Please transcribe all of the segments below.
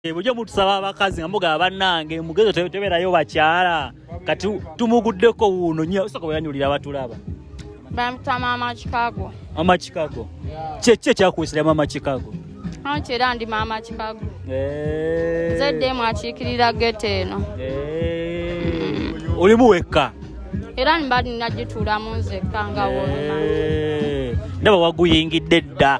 Eh, bujo mutusaba abakazi nga mugaba banange mugezo teberayo bakyala kati tumuguddeko wuuno nyo osaka weyanyulira batulaba bamutwa mama chicago mama chicago kyekyo ekyakuwisira mama chicago anti era ndi mama chicago eh. zeddemu akiikirira gete eno eh. olimu wekka era nibadi nagituulamu nzekka nga wonna ndaba waguyingidde dda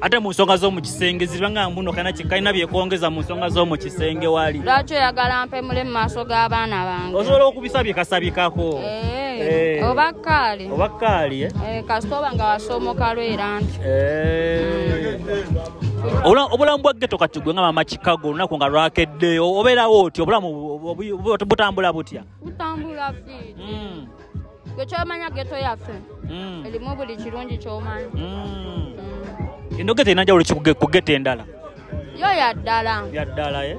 ate mu nsonga z'omu kisenge zibanga mbuno kana kalina byekwongeza mu nsonga z'omu kisenge wali lwaki oyagala mpemule mu maaso g'abaana bange osobola okubisabye kasabikako eh, eh. oba kaali oba kaali eh? kasita oba nga wasomoka lwera nti obulamu bwa geto kati gwe nga mama chicago olunaku nga lwakedde obeerawo otya obulamu butambula butya butambula fi hmm. gwe kyomanya geto yaffe mm. elimu buli kirungi kyomanya mm. mm. eno geto erina jawulo ku geto endala yo yaddala yaddala e eh?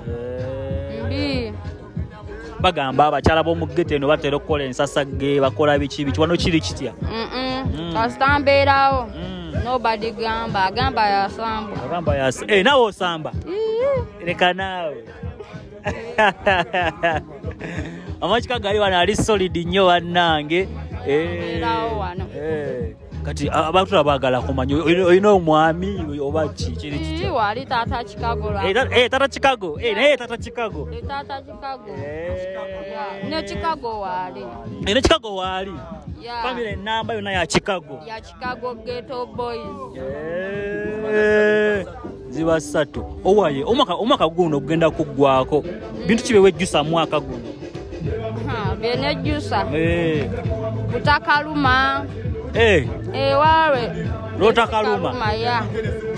eh. mbi bagamba abakyala b'omugeto eno batera okukola ensasage bakola biki biki wano kiri kitya mm. kasita mbeerawo nobody gamba agamba yasamba agamba yasamba eh, nawe osamba leka naawe amakika gali wano ali solid nnyo bannange eh, eh. kati abantu abagala kumanya olina omwami oba kikiwali eh, tata chicago tata chicago naye tata chicago ne chicago waali famire enamba yona ya chicago Chicago Ghetto Boys. Eh, ziba ssatu owaye omwaka omwaka guno ogenda kuggwako bintu kibe wejjusa mwaka guno byenejjusa eh. butakaluma eh. ewawe lotakaluma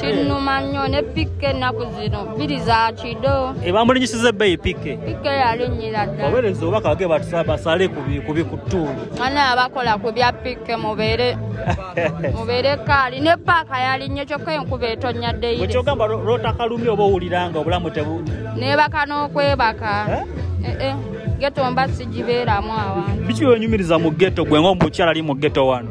kinnuma nnyo ne pikke ennaku zino biri za kido ebamulinyisiza ebbeyi pikke pikke yalinnyira dda obereza obaka bage basale ku bikutuulu mwana abakola ku bya pikke mubeere mubeere kaali ne paaka yali nnyo kyokka enkuba etonnya ddeyirekyogamba lwotakalumi oba owuliranga obulamu tebu nebaka n'okwebaka eh? Eh, eh. geto mba sigibeeramu awantu biki wenyumiriza mu geto gwe ngaomukyala ali mu geto wano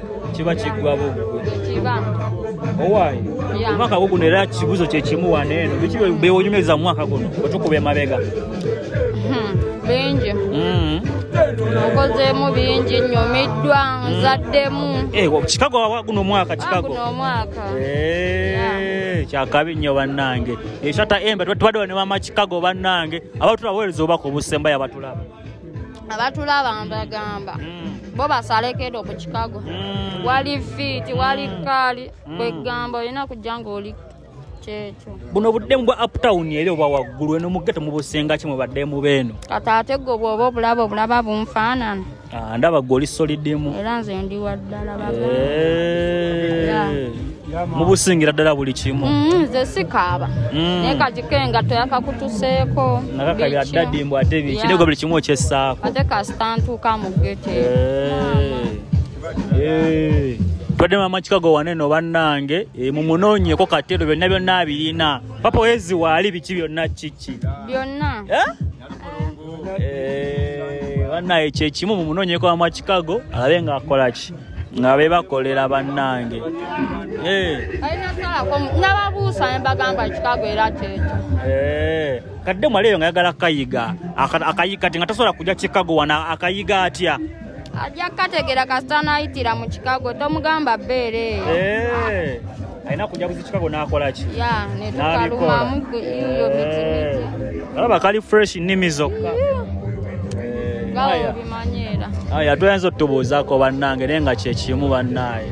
kiba kiggwa buggu owaayi omwaka gwo guno era kibuzo kyekimu wano eno biki bewonyumiriza mu mwaka guno otukuba emabega hmm, bingi hmm. okozemu bingi nyumiddwa nzaddemu eh, kikago guno omwaka kikago kyakabi nnyo bannange eshata embe tubaddewa ne mama kikago bannange abatulabawereza obubaka obusembayo abatulaba abatulaba mbagamba mm. bo basalekedo ku chicago mm. wali fiiti wali mm. kaali mm. kwegamba olina kujja ngaoli kyekyo buno buddemu bwa uptown eri oba waggulu eno mugete mubusinga ki mubadde mubeeno kati ate gwe bwoba obulaba obulaba bunfaanana ah, ndaba gwe oli solidimu era nze ndi waddala baga eh. mubusingira ddala buli kimu mm, nze sikaaba mm. naye kagiko engato yakakutuseeko nakakabira dadi mbu ate biki nego buli kimu okyessaako ate kasita ntuuka mu gete eh. eh. twadde mama kikago waneno bannange eh, mumunoonyeko katero byonna byonna abirina papa wezi waali biki byonna kiki byonna banaye kyekimu mumunoonyeko wamwa chicago alabe nga akolaki nga bebakolera bannange nababuusa nebagamba kikago era kyekyo kadde mwaleeyo nga yagala kayiga akayiga kati nga tasobola kujja kikago wana akayiga atya ajja kukategeera kasita anayitira mu kikago tomugamba beereeyo alina kujaguza chicago nakola ki ya ne tukaluma mugwe iyo miti miti alaba eh, kali fresh nimi zokka aya toyinza otubuuzaako bannange naye nga kyekimu bannaaye